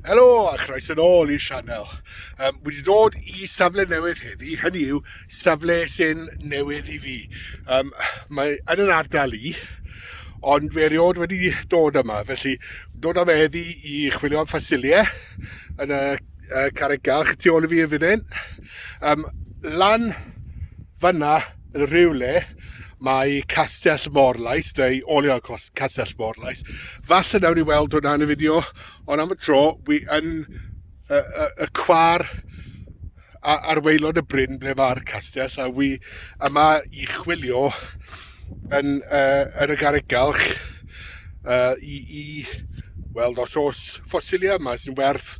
Helo a chroes yn ôl i'r sianel. Um, wedi dod i safle newydd heddi, hynny yw safle sy'n newydd i fi. Um, mae yn yr ardal i, ond fe erioed wedi dod yma, felly dod am heddi i chwilio am ffasiliau yn y, y carreg galch tu ôl i fi yn fan hyn. Um, lan fanna yn rhywle mae Castell Morlais, neu olio Castell Morlais. Falle nawn ni weld hwnna yn y fideo, ond am y tro, wi yn y, y, y cwar ar weilod y bryn ble mae'r castell, a wi yma i chwilio yn, uh, yn y garreg galch uh, i, i weld os oes ffosilia yma sy'n werth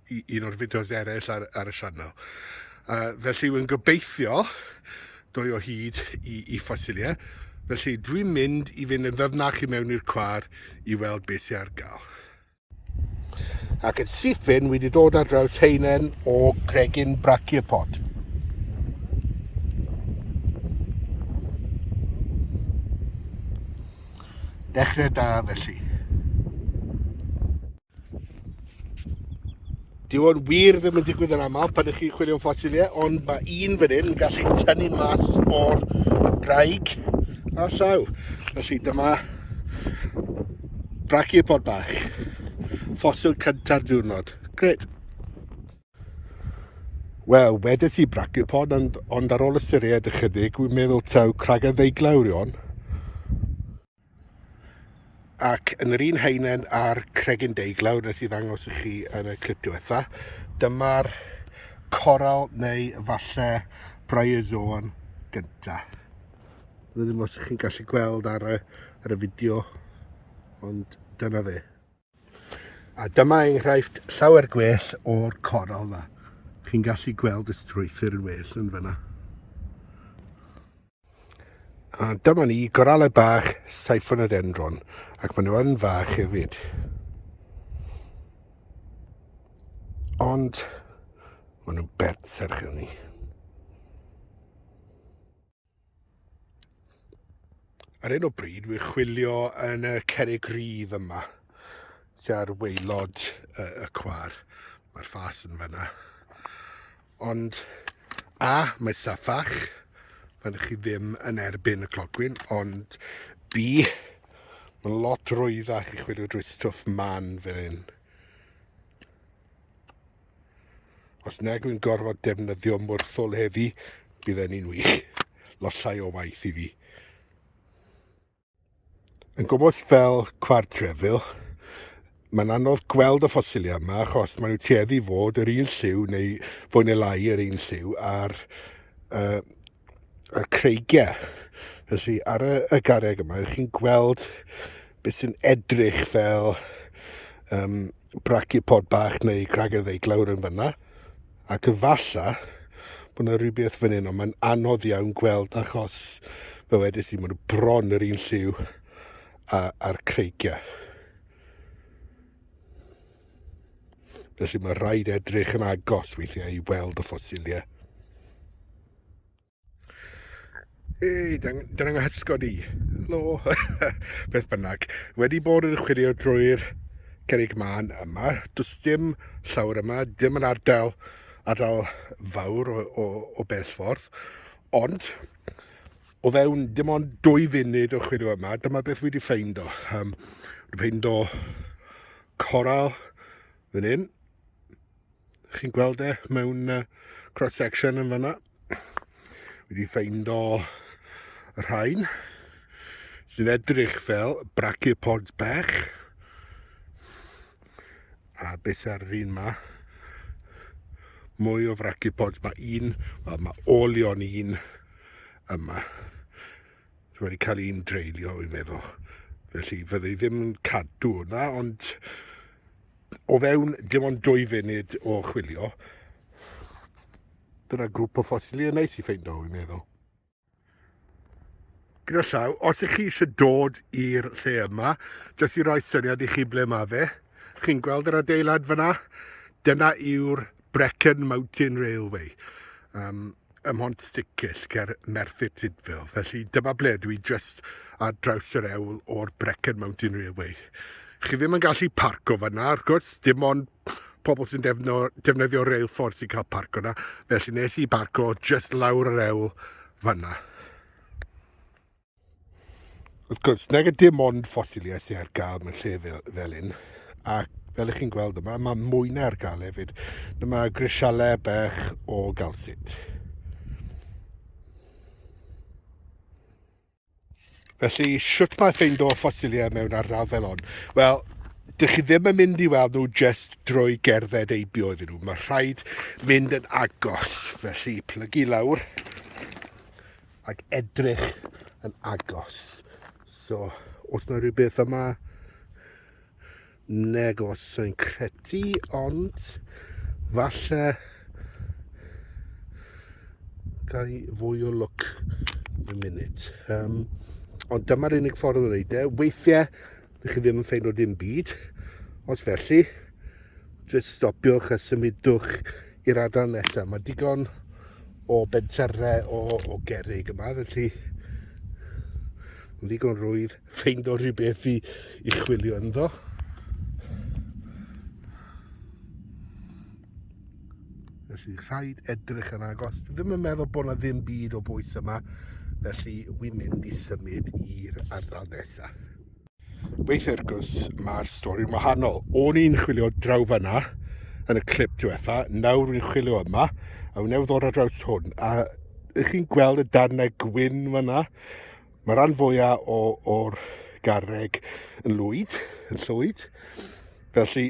un o'r fideos eraill ar, ar y sianel. Uh, felly, wy'n gobeithio dwy o hyd i, i ffosiliau. Felly, dwi'n mynd i fynd yn ddyfnach i mewn i'r cwar i weld beth sy'n ar gael. Ac yn sythyn, wedi dod ar draws heinen o gregyn brachiopod. Dechrau da felly. Dyw o'n wir ddim yn digwydd yn aml pan ydych chi'n chwilio am ffosiliau, ond mae un fan hyn yn gallu tynnu mas o'r braig a llaw. Felly dyma brachiopodd bach, ffosil cynta'r diwrnod. Gret. Wel, wedes i brachiopodd, ond, ond ar ôl ystyried ychydig, wi'n meddwl taw cragen ddeiglawr yw hon. Ac yn yr un haenen a'r cregyn deiglawr nes i ddangos i chi yn y clip diwetha, dyma'r coral neu falle bryozoan gynta. Rydym os ych chi'n gallu gweld ar y, ar y fideo, ond dyna fe. A dyma enghraifft llawer gwell o'r coral na. Chi'n gallu gweld y strwythur yn well yn fyna. A dyma ni goralau bach Siphonodenron, ac maen nhw yn fach hefyd. Ond maen nhw'n bert serch ni. Ar un o bryd, wy'n chwilio yn y cerig rydd yma, tua'r weilod y, y cwar. Mae'r ffas yn fyna. Ond, a, mae saffach, pan ydych chi ddim yn erbyn y clogwyn, ond B, mae'n lot rwyddach i chwilio drwy stwff man fel hyn. Os nag yw'n gorfod defnyddio mwrthwl heddi, bydd ni'n wych. Losau o waith i fi. Yn gwmwys fel cwar trefil, mae'n anodd gweld y ffosiliau yma achos maen nhw tueddu fod yr un lliw neu fwy neu lai yr un lliw a'r uh, y creigiau. Felly ar y, y garreg yma, ych chi'n gweld beth sy'n edrych fel um, brachypod bach neu gragydd ei glawr yn fyna. Ac efalla bod yna rhywbeth fan hyn, ond mae'n anodd iawn gweld achos fe wedys i, mae'n bron yr un lliw a'r creigiau. Felly mae rhaid edrych yn agos weithiau i weld y ffosiliau. Ei, dyna da ni'n hysgod i. Helo. Beth bynnag. Wedi bod yn chwilio drwy'r cerig man yma, does dim llawr yma, dim yn ardal, ardal fawr o, o, o bell ffordd, ond O fewn dim ond dwy funud o chwilio yma, dyma beth wedi ffeind o. Um, wedi ffeind o coral fan hyn. Chi'n gweld e mewn uh, cross-section yn fanna. Wedi ffeind o rhain sy'n edrych fel brachiopods bach. a beth ar yr un ma. Mwy o fracipods, mae un, wel mae olion un yma. Dwi wedi cael un dreulio i'n meddwl. Felly fydde i ddim yn cadw hwnna, ond o fewn dim ond dwy funud o chwilio, dyna grŵp o ffosili yn neis i ffeindio i'n meddwl. gyda llaw, os ych chi eisiau dod i'r lle yma, jyst i roi syniad i chi ble mae fe, chi'n gweld yr adeilad fyna? Dyna yw'r Brecon Mountain Railway, um, ym Mhont Sticyll, ger Merthyr Tudfil. Felly dyma ble dwi jyst ar draws yr ewl o'r Brecon Mountain Railway. Chi ddim yn gallu parco fyna, wrth gwrs, dim ond pobl sy'n defno, defnyddio reilffordd sy'n cael parco na. Felly nes i barco just lawr yr ewl fanna. Wrth gwrs, nag y dim ond ffosiliau sy'n ar gael mewn lle fel, fel un. Ac fel ych chi'n gweld yma, mae mwy na ar gael hefyd. Dyma grisialau bech o galsit. Felly, sut mae ffeind o ffosiliau mewn ardal fel hon? Wel, dych chi ddim yn mynd i weld nhw jyst drwy gerdded eibio iddyn nhw. Mae rhaid mynd yn agos, felly plygu lawr ac edrych yn agos. So, os yna rhywbeth yma, negos yn credu ond falle gai fwy o lwc yn munud. Um, ond dyma'r unig ffordd o wneud e. Weithiau, ydych chi ddim yn ffeino dim byd. Os felly, jyst stopiwch a symudwch i'r adael nesaf. Mae digon o benterau o, o gerig yma, felly yn ddigon rwydd. ffeind o rhywbeth i, i chwilio ynddo. Felly rhaid edrych yn agos. Dwi ddim yn meddwl bod yna ddim byd o bwys yma. Felly wy'n mynd i symud i'r ardal nesaf. Weith ergws mae'r stori'n wahanol. O'n i'n chwilio draw fanna yn y clip diwetha, nawr wy'n chwilio yma, a wy'n newid ddod ar draws hwn. A ych chi'n gweld y darnau gwyn fanna? Mae rhan fwyaf o'r garreg yn lwyd, yn llwyd. Felly,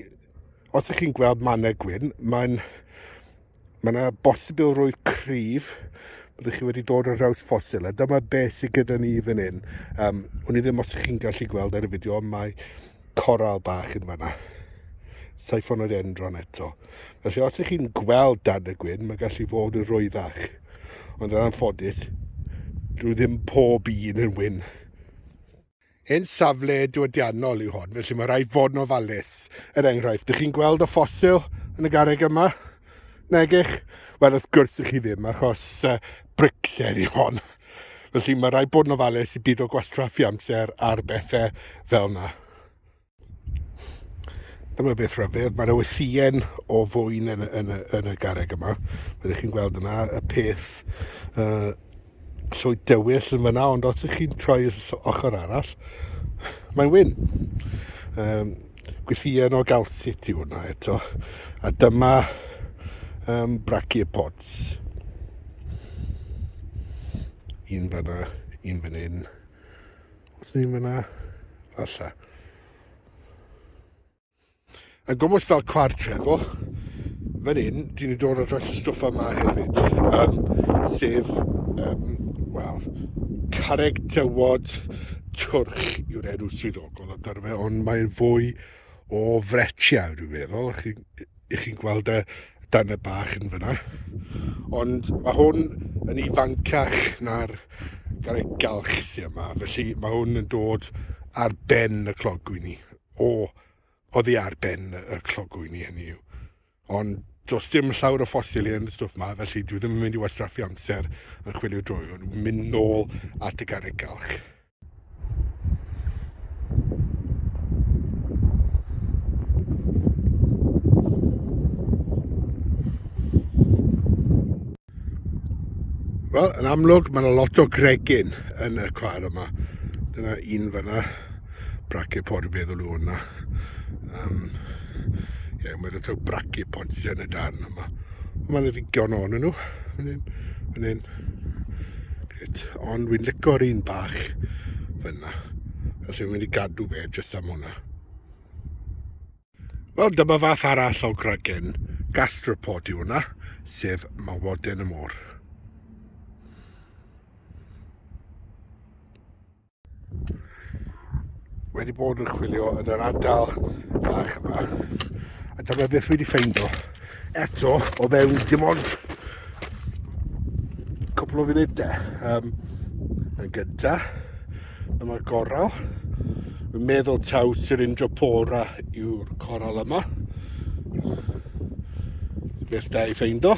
os ych chi'n gweld mannau gwyn, mae'n... Mae yna bosibilrwydd cryf bod chi wedi dod ar draws ffosil, a dyma beth sydd gyda ni fan hyn. Um, Wni ddim os ych chi'n gallu gweld ar y fideo, mae coral bach yn fanna. Siphonodendron eto. Felly os ych chi'n gweld dan y gwyn, mae gallu fod yn rwyddach. Ond yn anffodus, dwi ddim pob un yn wyn. Yn safle diwydiannol yw hon, felly mae rhai fod yn ofalus. Er enghraifft, ydych chi'n gweld y ffosil yn y garreg yma? Negych? Wel, wrth gwrs ych chi ddim, achos uh, bricllen i hon. Felly mae rhaid bod yn ofalus i byd o gwastraffu amser ar bethau fel yna. Dyma beth rhyfedd, mae yna wythien o fwyn yn, yn, yn y garreg yma. Mae'n chi'n gweld yna y peth uh, llwy dywyll yn fyna, ond os ych chi'n troi ochr arall, mae'n wyn. Um, Gwythïen o galsit i hwnna eto. A dyma um, brachiopods. Un fanna, un fan hyn. Os ni'n fanna, alla. A gwmwys fel cward trefo, fan hyn, dyn ni'n dod o dros y stwff yma hefyd. Um, sef, um, wel, carreg tywod twrch yw'r enw swyddogol. Wel, ond ar fe, ond mae'n fwy o fretiau, dwi'n meddwl. Chi, I chi'n gweld y dan y bach yn fyna. Ond mae hwn yn ifancach na'r gael ei galch sy'n yma. Felly mae hwn yn dod ar ben y clogwy ni. O, oddi ar ben y clogwy ni hynny yw. Ond does dim llawer o ffosil yn y stwff ma, felly dwi ddim yn mynd i wastraffu amser yn chwilio drwy hwn. Mynd nôl at y garreg galch. Wel, yn amlwg, mae yna lot o gregyn yn y cwar yma. Dyna un fyna, braciau pod yn meddwl nhw hwnna. Um, ie, mae yna braciau pod sydd yn y darn yma. Mae yna ddigon o'n nhw, fan hyn, fan hyn. it. Ond dwi'n licio'r un bach fyna. Felly dwi'n mynd i gadw fe jyst am hwnna. Wel, dyma fath arall o gragen gastrapod i hwnna, sef mawoden y môr. wedi bod yn chwilio yn yr ardal fach yma a dyma beth wedi ffeindo eto o fewn dim ond cwpl o funudau um, yn gynta dyma goral yn meddwl taw Syringiopora yw'r coral yma beth da i ffeindo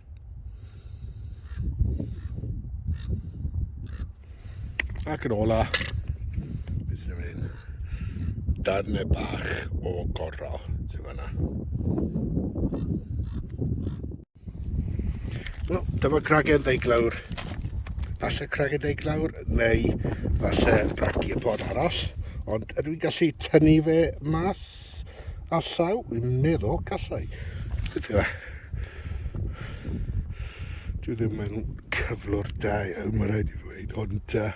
Ac yn ola, beth sy'n mynd? Darnau bach o gorau, ti'n fanna. Wel, dyma cragen ddeiglawr. Falle cragen ddeiglawr, neu falle braci y pod arall. Ond ydw i'n gallu tynnu fe mas? Pits a llaw, dwi'n meddwl, gallai. Dwi ddim yn cyflwr da iawn, mae'n rhaid i ddweud, ond uh,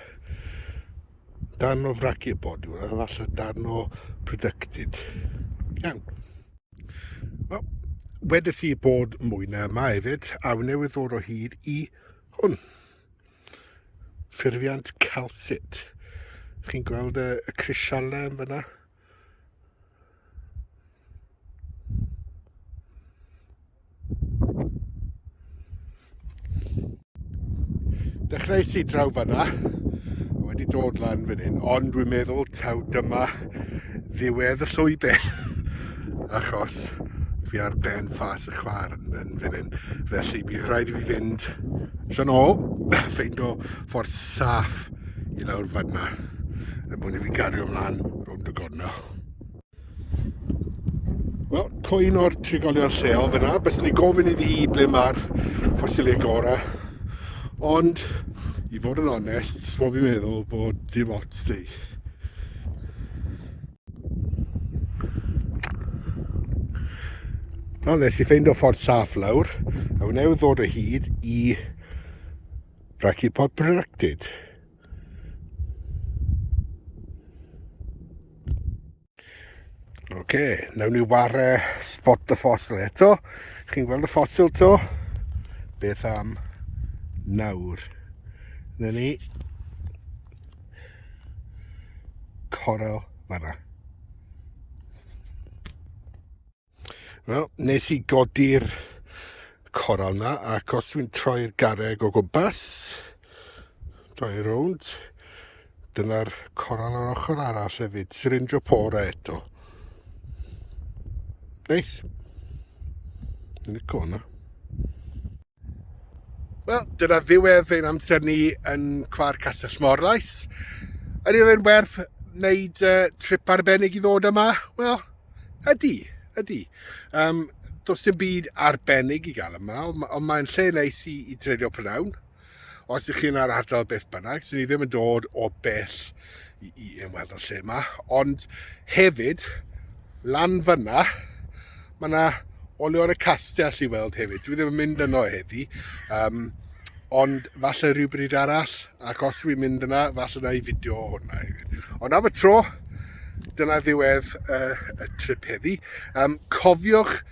darn o fraci y bod yw, falle darn o producted. Iawn. Wel, wedi ti bod mwy na yma hefyd, a fi newydd ddod o hyd i hwn. Ffurfiant calcit. Chi'n gweld y, y crisialau yn fyna? Dechreuais i draw fanna, wedi dod lan fan hyn, ond dwi'n meddwl taw dyma ddiwedd y llwybr, achos fi ar ben ffas y chwar yn fan hyn. Felly, bydd rhaid i fi fynd trwy'n ôl, ffeindo ffordd saff i lawr fan yna er mwyn i fi gario ymlaen rownd y gornel. Wel, cwyn o'r trigolion lleol fyna, beth ni gofyn iddi hi ble mae'r ffosiliau gorau. Ond, i fod yn onest, sbo fi'n meddwl bod dim ots di. Wel, nes i ffeind o ffordd saff lawr, a wneud ddod o hyd i Rhaid i bod protected. Oce, okay, nawn ni war uh, spot y ffosil eto. Chi'n gweld y ffosil to? Beth am nawr? Na ni. Coral fanna. Wel, nes i godi'r coral na, ac os dwi'n troi'r garreg o gwmpas, troi rownd, dyna'r coral o'r ochr arall hefyd, Syringiopora eto. Neis. Nico hwnna. Wel, dyna ddiwedd ein amser ni yn Cwar Castell Morlais. Ydy fe'n werth wneud uh, trip arbennig i ddod yma? Wel, ydy, ydy. Um, does dim byd arbennig i gael yma, ond mae'n lle neis i, i dreulio prynawn. Os ydych chi'n ar ardal beth bynnag, sy'n ni ddim yn dod o bell i, i ymweld o'r lle yma. Ond hefyd, lan fyna, mae yna olion y castell i weld hefyd. Dwi ddim yn mynd yno heddi, um, ond falle rhywbryd arall, ac os dwi'n mynd yna, falle na i fideo o hwnna hefyd. Ond am y tro, dyna ddiwedd uh, y trip heddi. Um, cofiwch